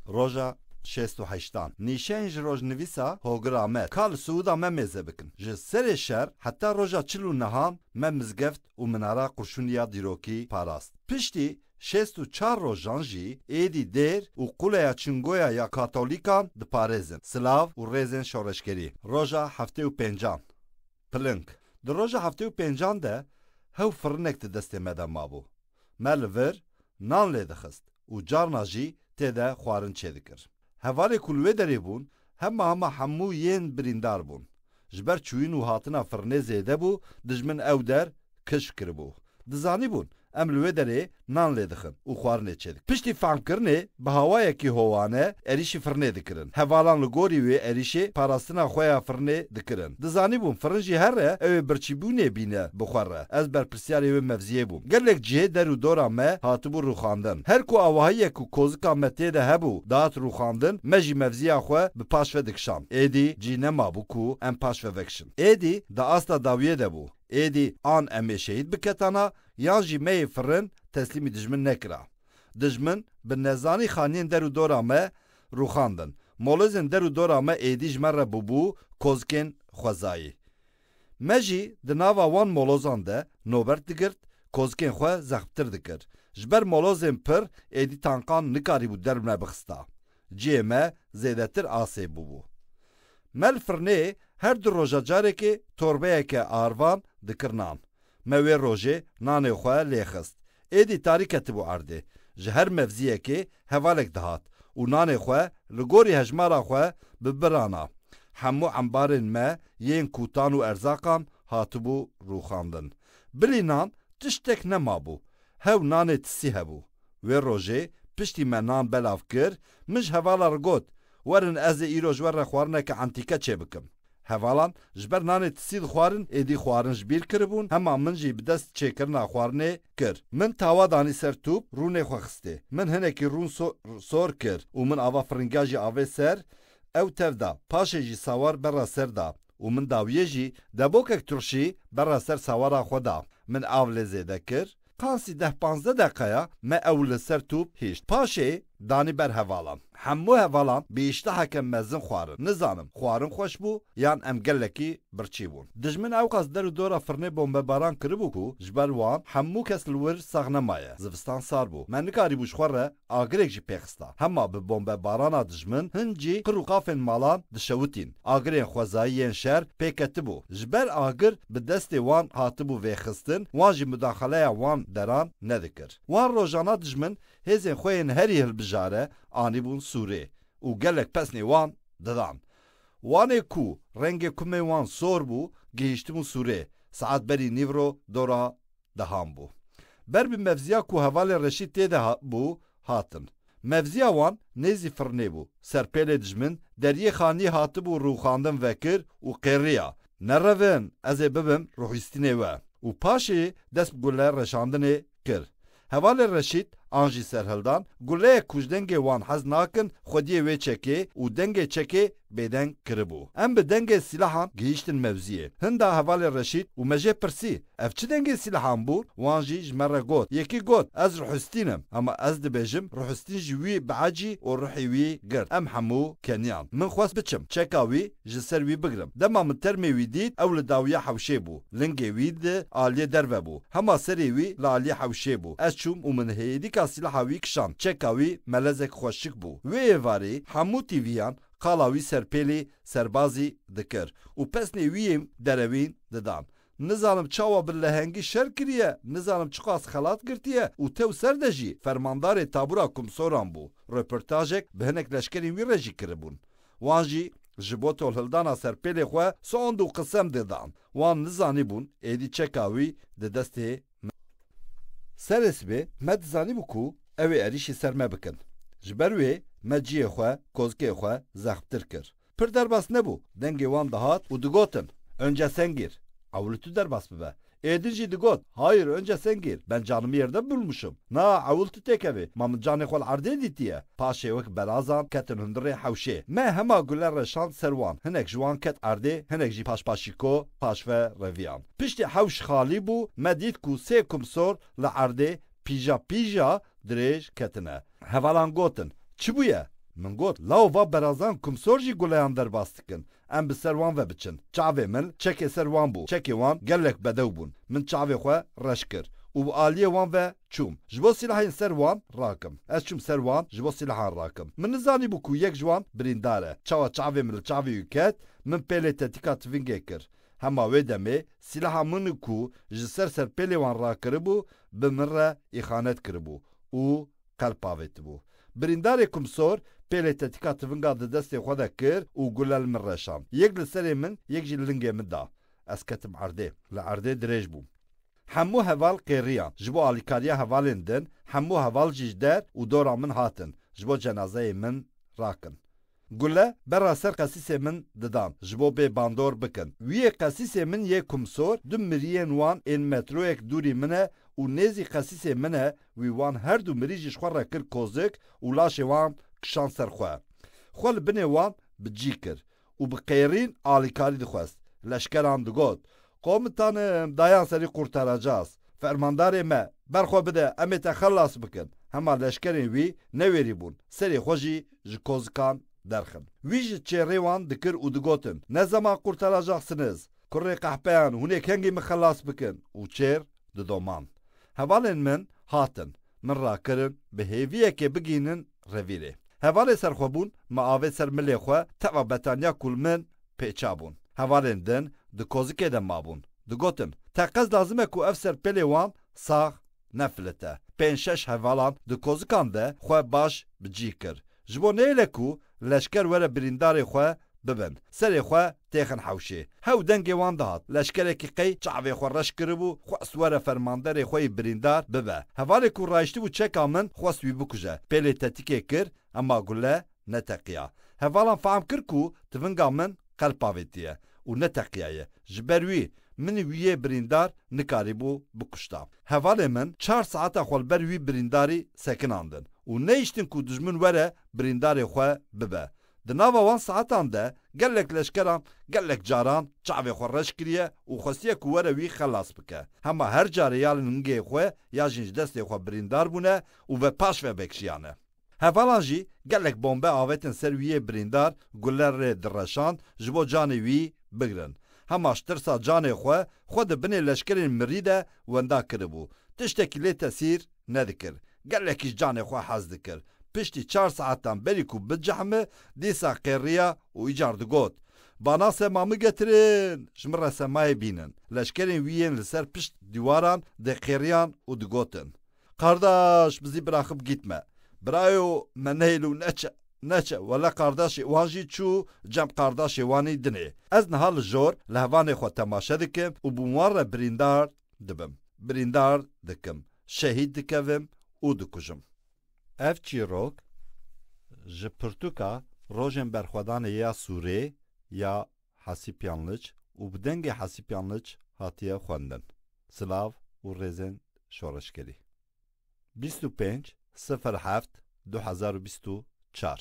Roja şêst û heştan nîşeyên ji rojnivîsa Hogir Amed ka li Siûda me mêze bikin. Ji serê şer heta roja çil û nihan me mizgeft û minara qurşûnî ya dîrokî parast. Piştî şêst û çar rojan jî êdî dêr û quleya Çingoya ya Katolîkan diparêzin. Silav û rêzên şoreşgerî. Roja heftê û pêncan piling Di roja heftê û pêncan de hew firinek di destê me de mabû. Me li vir nan lê dixist û carna jî tê de xwarin çêdikir. Hevalê ku li wê derê bûn hema hema hemû yên birîndar bûn. Ji ber çûyîn û hatina firnê zêde bû, dijmin ew der kişf kiribû. Dizanîbûn em li wê derê nan lê dixin û xwarinê çêdikin. Piştî fehmkirinê Bi hawayekî howane êrîşî firnê dikirin. Hevalan li gorî wê êrîşê parastina xwe ya firnê dikirin. Dizanîbûm firin jî her re ew ê birçîbûnê bîne bi xwe re. Ez berpirsyarê wê mevziyê bûm. Gelek cihê der û dora me hatibû rûxandin. Her ku awahiyek û kozika me tê de hebû dihat rûxandin, me jî mevziya xwe bi paş ve dikişand. Êdî cî nemabû ku em paş ve vekişin. Êdî di asta dawiyê de bû. Êdî an em ê şehîd biketana yan jî me yê firin teslîmî dijmin nekira. Dijmin bi nezanî xaniyên der û dora me rûxandin. Molozên der û dora me êdî ji me re bûbû kozikên xwezayî. Me jî di nava wan molozan de nobert digirt, kozikên xwe zexmtir dikir. Ji ber molozên pir êdî tankan nikarîbû der bi me bixista. Cihê me zêdetir asê bûbû. Me li firnê her du roja carekê torbeyeke arvan dikir nan. Me wê rojê nanê xwe lê xist. Êdî tarî ketibû erdê. Ji her mevziyekê hevalek dihat û nanê xwe li gorî hejmara xwe bi bir ana. Hemû embarên me yên kûtan û erzaqan hatibû rûxandin. Bilî nan tiştek nemabû. Hew nanê tisî hebû. Wê rojê piştî me nan belav kir, min ji hevala re got, Werin ez ê îro ji we re xwarineke entîke çêbikim. Hevalan ji ber nanê tisî dixwarin, êdî xwarin ji bîr kiribûn, hema min jî bi dest çêkirina xwarinê kir. Min tawa danî ser tûp, rûnê xwe xistê. Min hinekî rûn sor kir û min ava firinga jî avê ser, ew tev da, paşê jî sawar berra ser da û min dawiyê jî debokek turşî berra ser sawara xwe da. Min av lê zêde kir, Qasî deh panzdeh deqeya me ew li ser top hişt. Paşê danî ber hevalan. Hemû hevalan bi îşteheke mezin xwarin. Nizanim xwarin xweş bû yan em gelekî birçî bûn. Dijmin ewqas der û dora firnê bombebaran kiribû ku ji ber wan hemû kes li wir sax nemaye. Zivistan sar bû. Me nikarîbû ji xwe re Agirêk jî pêxista. Hema bi bombebarana dijmin hin jî qir û qafên malan dişewitîn. Agirên xwezayî yên şer pêketibû. Ji ber agir bi destê wan hatibû vêxistin, wan jî mudaxaleya wan deran nedikir. Wan rojana dijmin hêzên xwe yên herî hilbijare anîbûn sûrê û gelek pesnê wan didan. Wanê ku rengê kumê wan sor bû gihîştibûn sûrê, saet berî nîvro dora dehan bû. Ber bi mevziya ku hevalên reşî tê de bû hatin. Mevziya wan nêzî firnê bû. Serpêlê dijmin deriyê xaniyê hatibû rûxandin vekir û qêriya, Nerevin, ez ê bibim rûhîstînê we. Û paşê dest bi gule reşandinê kir. Hevalên reşît an jî serhildan, guleyek ku ji dengê wan hez nakin xwediyê wê çekê û dengê çekê bêdeng kiribû. Em bi dengê sîlahan gihîştin mevziyê. Hinda hevalên reşît û me jê pirsî, Ev çi dengê sîlehan bû? Wan jî ji me re got. Yekî got, Ez Ruhistîn im. Hema ez dibêjim, Ruhistîn jî wî biecî û ruhî wî girt. Em hemû keniyan. Min xwest biçim, çeka wî ji ser wî bigrim. Dema min termê wî dît, ew li dawiya hewşê bû. Lingê wî di aliyê derve bû. Hema serê wî li aliyê hewşê bû. Ez çûm û min hêdîka sîleha wî kişand. Çeka wî melezek xweş şik bû. Wê êvarî hemû tîviyan qala wî serpêlî serbazî dikir û pesnê wî yên derewîn didan. Nizanim çawa bi lehengî şer kiriye, nizanim çiqas xelat girtiye û tew ser de jî fermandarê tabûra komsoran bû. Röportajek bi hinek leşkerên wî re jî kiribûn. Wan jî ji bo tolhildana serpêlê xwe soand û qisem dê dan. Wan nizanîbûn êdî çeka wî di destê me ye. Serê sibê me dizanîbû ku ew ê erîşî ser me bikin. Ji ber wê me ciyê xwe, kozikê xwe zexmtir kir. Pir derbas nebû, dengê wan dihat û digotin, Önce sen gir. Ew li tu derbas bibe. Ê din jî digot, Hayır, önce sen gir. Ben canımı yerde bulmuşum. Na, ewil tu têkevê. Ma min canê xwe li erdê dîtiye. Paşê wek berazan, ketin hundirê hewşê. Me hema gule re şand ser wan. Hinek ji wan ket erdê, hinek jî paşpaşîko, paşve, reviyan. Piştî hewş xalî bû, me dît ku sê kumsor li erdê, pîja pîja, dirêj, ketine. Hevalan gotin, Çi bûye? Min got, Law va berazan kumsor jî guleyan derbas dikin. Em bi ser wan ve biçin. Çavê min çekê ser wan bû. Çekê wan gelek bedew bûn. Min çavê xwe reş kir û bi aliyê wan ve çûm. Ji bo sîlahên ser wan rakim. Ez çûm ser wan ji bo sîlahan rakim. Min nizanîbû ku yek ji wan birîndar e. Çawa çavê min li çavê wî ket, min pêlê tetika tivingê kir. Hema wê demê sîlaha min ku ji ser serpêlê wan rakiribû, bi min re îxanet kiribû. û qelp avêtibû. Birîndarê Kumsor pêlê tetika tivinga di destê xwe de kir û gule li min reşand. Yek li serê min, yek jî li lingê min da. Ez ketim erdê. Li erdê dirêj bûm. Hemû heval qêriyan. Ji bo alîkariya hevalên din, hemû heval jî ji der û dora min hatin, ji bo cenazeyê min rakin. Gule berra ser qesîsê min didan ji bo bê bandor bikin. Wiyê qesîsê min yê Kumsor du miriyên wan ên metroyek dûrî min e û nêzî qesîsê min e, wî wan her du mirî ji xwe re kir kozik û laşê wan kişand ser xwe. Xwe li binê wan bi cî kir û bi qêrîn alîkarî dixwest. Leşkeran digot, Komutan dayan serî qurtaracaz, Fermandarê me, ber xwe bide em ê te xelas bikin. Hema leşkerên wî newêrî bûn, serê xwe jî ji kozikan derxin. Wî ji çêrê wan dikir û digotin, Ne zeman qurtaracaksiniz! Kurê qehpeyan, hûn ê kengî min xelas bikin! û çêr didomand. Hevalên min hatin, min rakirin bi hêviyekê bigihînin revîrê. Hevalê serxwebûn me avê ser milê xwe tewa betaniya kûlmin pêçabûn. Hevalên din di kozikê de mabûn. Digotin, teqez lazim e ku ev serpêlê wan sax nefilite. Pênc şeş hevalan di kozikan de xwe baş bi cîh kir. Ji bo neyêle ku leşker were birîndarê xwe bibin. Serê xwe têxin hewşê. Hew dengê wan dihat. Leşkerekî qey çavê xwe reş kiribû, xwest were fermanderê xwe yî birîndar bibe. Hevalê ku rayiştibû çeka min xwest wî bikuje. Pêlê tetikê kir ema gule neteqiya. Hevalan fehm kir ku tivinga min qelp avêtiye û neteqiyaye. Ji ber wî min wî yê birîndar nikarîbû bikuşta. Hevalê min çar saeta xwe li ber wî birîndarî sekinandin û neyiştin ku dijmin were birîndarê xwe bibe. Di nava wan saetan de gelek leşkeran gelek caran çavê xwe reş kiriye û xwestiye ku were wî xelas bike. Hema her carê ya li ningeyê xwe ya jîn ji destê xwe birîndar bûne û ve paş ve vekşiyane. Hevalan jî gelek bombe avêtin ser wî yê birîndar gule rê direşand ji bo canê wî bigirin. Hema ji tirsa canê xwe, xwe di binê leşkerên mirî de wenda kiribû. Tiştekî lê tesîr nedikir. Gelekî ji canê xwe hez dikir. Piştî çar saetan berî ku bicehme dîsa qêriya û îcar digot, Bana sema min getirin, ji min re semayê bînin. Leşkerên wî yên li ser pişt dîwaran dê qêriyan û digotin, Qardaş bizî bira xwe bigîtme. Birayo me nehêl û neçe, neçe. Wele qardaşê wan jî çû cem qardaşê wanî dinê. Ez niha li jor li hevanê xwe temaşe dikim û bi wan re birîndar Dibim, birîndar dikim, şehîd dikevim û dikujim. Ev çîrok ji pirtûka Rojên Berxwedanê ya Sûrê ya Hesî Piyanliç û bi dengê Hesî Piyanliç hatiye xwendin. Silav û rêzên şoreşgerî. Bîst û pênc sifir heft du hezar û bîst û çar.